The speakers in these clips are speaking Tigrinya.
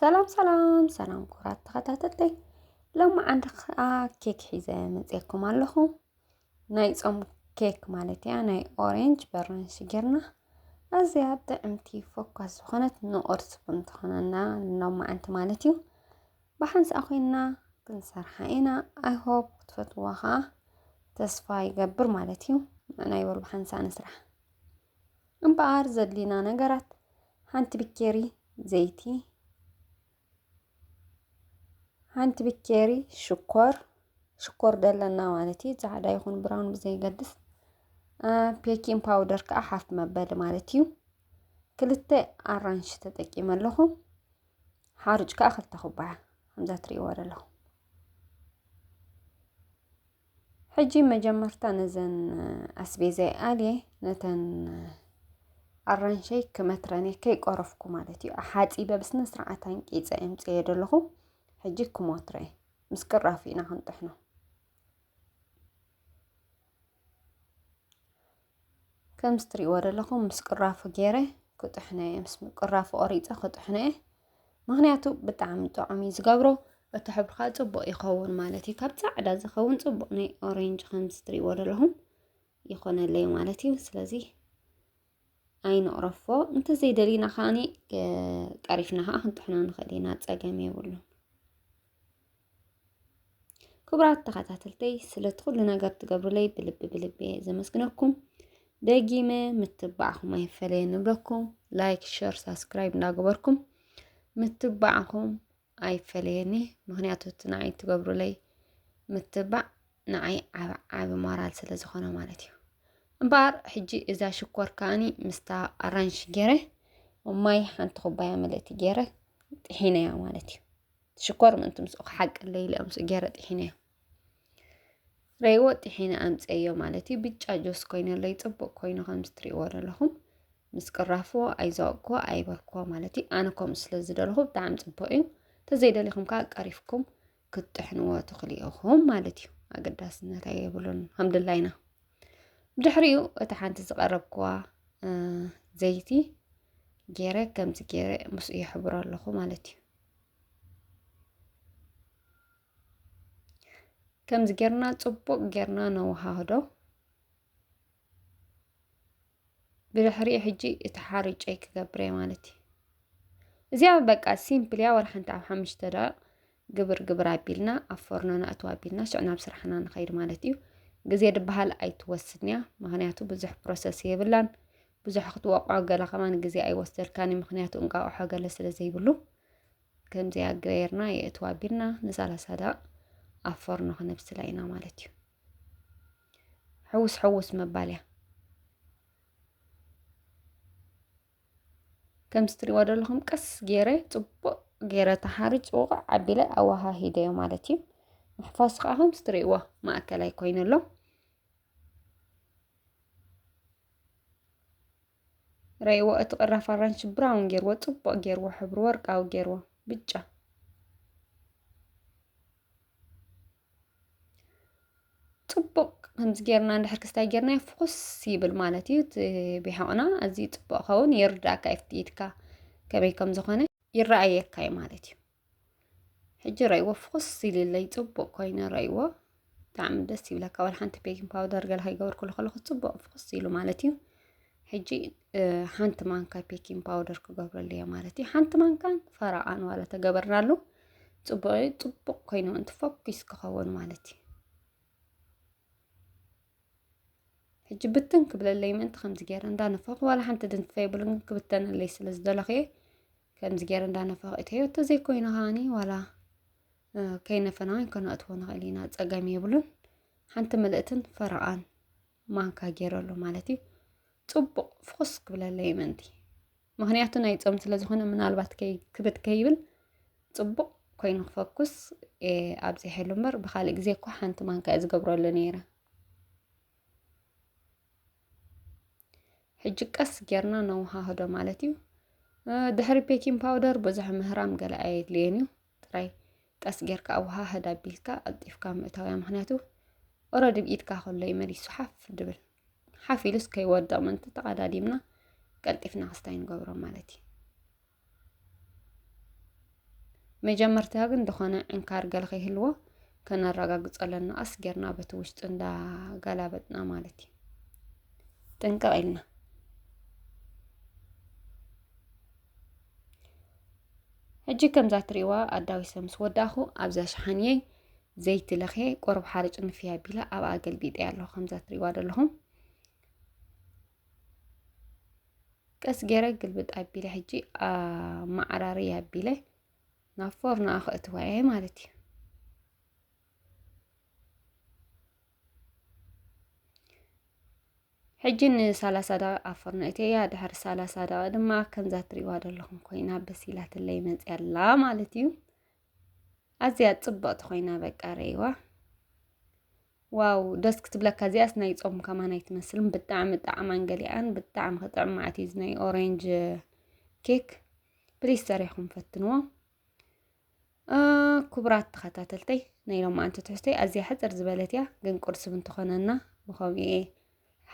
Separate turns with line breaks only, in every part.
ሰላም ሰላም ሰላም ኩራት ተኸታተልተይ ሎሚ ዓንዲ ከዓ ኬክ ሒዘ መፅየኩም ኣለኹ ናይ ፆም ኬክ ማለት እያ ናይ ኦሬንጅ በራንሽ ጌርና ኣዝያ ጥዕምቲ ፎኳስ ዝኾነት ንቁርሲ ቡን ትኾነና ሎሚ ዓንቲ ማለት እዩ ብሓንሳእ ኮይና ክንሰርሓ ኢና ኣይ ሆፕ ክትፈትዋ ከኣ ተስፋ ይገብር ማለት እዩ ንዕናይ በሉ ብሓንሳእ ንስራሕ እምበኣር ዘድልዩና ነገራት ሓንቲ ብኬሪ ዘይቲ ሓንቲ ብኬሪ ሽኮር ሽኮር ደለና ማለት እዩ ጻዕዳ ይኹን ብራውን ብዘይገድስ ፔኪን ፓውደር ከዓ ሓፍ መበሊ ማለት እዩ ክልተ ኣራንሽ ተጠቂመ ኣለኹ ሓሩጭ ከዓ ክልተ ኩባያ ከምዛ ትሪእዎ ዘለኹም ሕጂ መጀመርታ ነዘን ኣስቤዛይ ኣልየ ነተን ኣራንሸይ ክመትረን እየ ከይቆረፍኩ ማለት እዩ ሓፂበ ብስነ ስርዓት ኣንቂፀ የምፅየ ዘለኹ ሕጂ ክሞትረ እየ ምስ ቅራፍ ኢና ክንጥሕኖ ከምዚ ትሪእዎ ዘለኹም ምስ ቅራፉ ገይረ ክጥሕነ እየ ምስ ቅራፉ ቆሪፀ ክጥሕነ እየ ምክንያቱ ብጣዕሚ ጥዑም እዩ ዝገብሮ እቲ ሕብሪ ከዓ ፅቡቅ ይኸውን ማለት እዩ ካብ ፃዕዳ ዝኸውን ፅቡቅ ናይ ኦሬንጅ ከምዚ ትሪእዎ ዘለኹም ይኾነለይ ማለት እዩ ስለዚ ኣይንቕረፎ እንተዘይደሊና ከዓኒ ቀሪፍና ከዓ ክንጥሕኖ ንኽእል ኢና ፀገም የብሉን ክቡራት ተኸታተልተይ ስለቲ ኩሉ ነገር ትገብሩለይ ብልቢ ብልቢ ዘመስግነኩም ደጊመ ምትባዕኹም ኣይፈለየ ንብለኩም ላይክ ሸር ሳብስክራይብ እንዳገበርኩም ምትባዕኹም ኣይፈለየኒ ምክንያቱ እቲ ንዓይ እትገብሩለይ ምትባዕ ንዓይ ዓብ ዓብ ሞራል ስለ ዝኾነ ማለት እዩ እምበኣር ሕጂ እዛ ሽኮር ከዓኒ ምስታ ኣራንሽ ገይረ ማይ ሓንቲ ኩባያ ምልእቲ ገይረ ጥሒነያ ማለት እዩ ሽኮር ምእንቲ ምስኡ ክሓቅለይ ኢለ ምስኡ ገይረ ጥሒነያ ረይዎ ጢሒነ ኣምፀዮ ማለት እዩ ብጫ ጆስ ኮይነለይ ፅቡቅ ኮይኑ ከምዚ ትሪእዎ ዘለኹም ምስ ቅራፉ ኣይዛወቅኩ ኣይበልኩ ማለት እዩ ኣነ ከምኡ ስለ ዝደለኹ ብጣዕሚ ፅቡቅ እዩ ተዘይደሊኹም ከዓ ቀሪፍኩም ክትጥሕንዎ ትኽእሉ ኢኹም ማለት እዩ ኣገዳስነት ኣይብሉን ሃምድላይ ኢና ብድሕሪኡ እቲ ሓንቲ ዝቀረብኩዋ ዘይቲ ገይረ ከምዚ ገይረ ምስኡ የሕብሮ ኣለኹ ማለት እዩ ከምዚ ጌርና ጽቡቕ ጌርና ነወሃህዶ ብድሕሪኡ ሕጂ እቲ ሓርጨይ ክገብረ ማለት እዩ እዚኣ በቃ ሲምፕል እያ ወርሓንቲ ኣብ ሓሙሽተ ደቂቕ ግብር ግብር ኣቢልና ኣብ ፎርኖ ነእትዋ ኣቢልና ሽዕ ናብ ስራሕና ንኸይድ ማለት እዩ ግዜ ድበሃል ኣይትወስድን እያ ምክንያቱ ብዙሕ ፕሮሰስ የብላን ብዙሕ ክትወቕዖ ገለ ከማን ግዜ ኣይወስደልካን ምክንያቱ እንቃቕሖ ገለ ስለ ዘይብሉ ከምዚኣ ገይርና የእትዋ ኣቢልና ንሳላሳ ደቂቕ ኣብ ፎርኖ ክነብስላ ኢና ማለት እዩ ሕውስ ሕውስ ምባል እያ ከምዚ ትሪእዎ ዘለኹም ቀስ ገይረ ፅቡቅ ገይረ ተሓሪጭ ውቕዕ ኣቢለ ኣወሃሂደዮ ማለት እዩ ምሕፋስ ከዓ ከምዚ ትሪእዎ ማእከላይ ኮይኑ ኣሎ ረይዎ እቲ ቅራፍ ኣራንሺ ብራውን ጌርዎ ጽቡቅ ጌርዎ ሕብሩ ወርቃዊ ጌርዎ ብጫ ጽቡቅ ከምዚ ጌርና እንድሕር ክስታይ ጌርና ፍኹስ ይብል ማለት እዩ እቲ ቢሖቕና ኣዝዩ ጽቡቅ ኸውን ይርዳእካ ኢድካ ከመይ ከም ዝኾነ ይረኣየካ እዩ ማለት እዩ ሕጂ ረይዎ ፍኹስ ኢልለይ ፅቡቕ ኮይኑ ረይዎ ብጣዕሚ ደስ ይብለካ ዋላ ሓንቲ ቤኪንግ ፓውደር ገለ ከይገበርኩሉ ከለኹ ፅቡቕ ፍኹስ ኢሉ ማለት እዩ ሕጂ ሓንቲ ማንካ ቤኪንግ ፓውደር ክገብረሉ እየ ማለት እዩ ሓንቲ ማንካን ፈረቓን ዋላ ተገበርናሉ ፅቡቕ እዩ ፅቡቕ ኮይኑ ምእንቲ ፎኪስ ክኸውን ማለት እዩ ሕጂ ብትን ክብለለይ ምእንቲ ከምዚ ገይረ እንዳነፈኹ ዋላ ሓንቲ ድንትፈ የብሉን ክብተነለይ ስለ ዝደለኹ እየ ከምዚ ገይረ እንዳነፋቕ እተዮ እንተዘይኮይኑ ከዓኒ ዋላ ከይነፈና ወይን ከነእትዎ ንኽእል ኢና ፀገም የብሉን ሓንቲ ምልእትን ፈረቓን ማንካ ገይረሉ ማለት እዩ ፅቡቕ ፍኹስ ክብለለይ ምእንቲ ምክንያቱ ናይ ፆም ስለ ዝኾነ ምናልባት ክብት ከይብል ፅቡቕ ኮይኑ ክፈኩስ ኣብዚሐሉ እምበር ብካልእ ግዜ እኮ ሓንቲ ማንካ እየ ዝገብረሉ ነይረ ሕጂ ቀስ ጌርና ነወሃህዶ ማለት እዩ ድሕሪ ቤኪን ፓውደር ብዙሕ ምህራም ገለ ኣየድልየን እዩ ጥራይ ቀስ ጌርካ ኣወሃህድ ኣቢልካ ኣልጢፍካ ምእታውያ ምክንያቱ ኦረዲ ብ ኢድካ ከሎ እዩ መሊሱ ሓፍ ድብል ሓፍ ኢሉስ ከይወድቕ ምእንቲ ተቐዳዲምና ቀልጢፍና ክስታይ ንገብሮ ማለት እዩ መጀመርታ ግን ዝኾነ ዕንካር ገለ ከይህልዎ ከነረጋግጾ ኣለና ቀስ ጌርና በቲ ውሽጢ እንዳገላበጥና ማለት እዩ ጥንቅቕ ኢልና ሕጂ ከምዛ ትሪእዋ ኣዳዊ ሰብ ምስ ወዳእኹ ኣብዛ ሸሓንየይ ዘይቲ ለኽየ ቆርብ ሓርጭ ንፍያ ኣቢላ ኣብኣ ገልቢጠያ ኣለኹ ከምዛ ትሪእዋ ዘለኹም ቀስ ገይረ ግልብጥ ኣቢለ ሕጂ ማዕራሪ ኣቢለ ናብ ፎርኖ ኣኸእትዋ እየ ማለት እዩ ሕጂ ንሳላሳ ደቂ ኣብ ፎርኖ እተያ ድሕሪ ሳላሳ ደቂ ድማ ከምዛ ትሪእዋ ዘለኹም ኮይና በሲላትለይ መፅያ ኣላ ማለት እዩ ኣዝያ ጽብቕቲ ኮይና በቃ ረይዋ ዋው ደስ ክትብለካ እዚኣስ ናይ ጾም ከማን ኣይትመስልን ብጣዕሚ ጣዕማን ገሊኣን ብጣዕሚ ክጥዕም ማዓት እዩ ናይ ኦሬንጅ ኬክ ፕሊስ ሰሪሕኩም ፈትንዎ ክቡራት ተኸታተልተይ ናይ ሎማዓንቲ ትሕዝቶይ ኣዝያ ሕፅር ዝበለት እያ ግን ቁርሲ ብንትኾነና ብኸምኡ እየ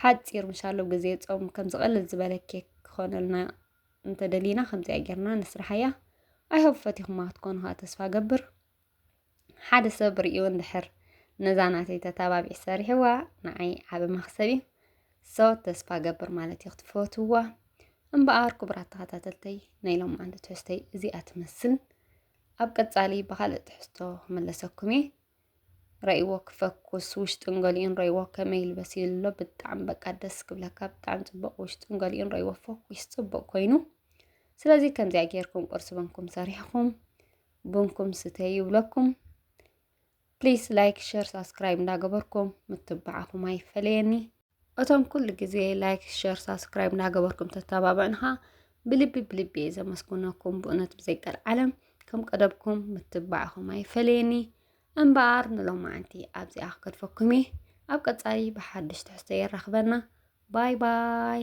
ሓፂር ምሻሎ ግዜ ጾም ከም ዝቐልል ዝበለ ኬክ ክኾነልና እንተደሊና ከምዚኣ ጌርና ንስራሓያ ኣይሆብ ፈቲኹማ ክትኮኑ ከዓ ተስፋ ገብር ሓደ ሰብ ርእዩ እንድሕር ነዛ ናተይ ተታባቢዕ ሰሪሕዋ ንዓይ ዓበ መክሰብ እዩ ሰው ተስፋ ገብር ማለት እዩ ክትፈትዋ እምበኣር ክቡራት ተኸታተልተይ ናይ ሎም ዓንዲ ትሕዝተይ እዚኣ ትመስል ኣብ ቀጻሊ ብካልእ ትሕዝቶ ክምለሰኩም እየ ረእዎ ክፈኩስ ውሽጡን ገሊኡን ረእዎ ከመይ ይልበስ ይብሎ ብጣዕሚ በቃ ደስ ክብለካ ብጣዕሚ ፅቡቅ ውሽጡን ገሊኡን ረእዎ ፈኩስ ፅቡቅ ኮይኑ ስለዚ ከምዚኣ ጌርኩም ቁርሲ በንኩም ሰሪሕኩም ቡንኩም ስተዩ ይብለኩም ፕሊስ ላይክ ሸር ሳብስክራይብ እንዳገበርኩም ምትባዕኹም ኣይፈለየኒ እቶም ኩሉ ግዜ ላይክ ሸር ሳብስክራይብ እናገበርኩም ተተባብዕንኻ ብልቢ ብልቢ እየ ዘመስግነኩም ብእውነት ብዘይቀል ዓለም ከም ቀደብኩም ምትባዕኹም ኣይፈለየኒ እምበኣር ንሎማዓንቲ ኣብዚኣ ክገድፈኩም እየ ኣብ ቀፃሊ ብሓድሽ ትሕዝቶ የራኽበና ባይ ባይ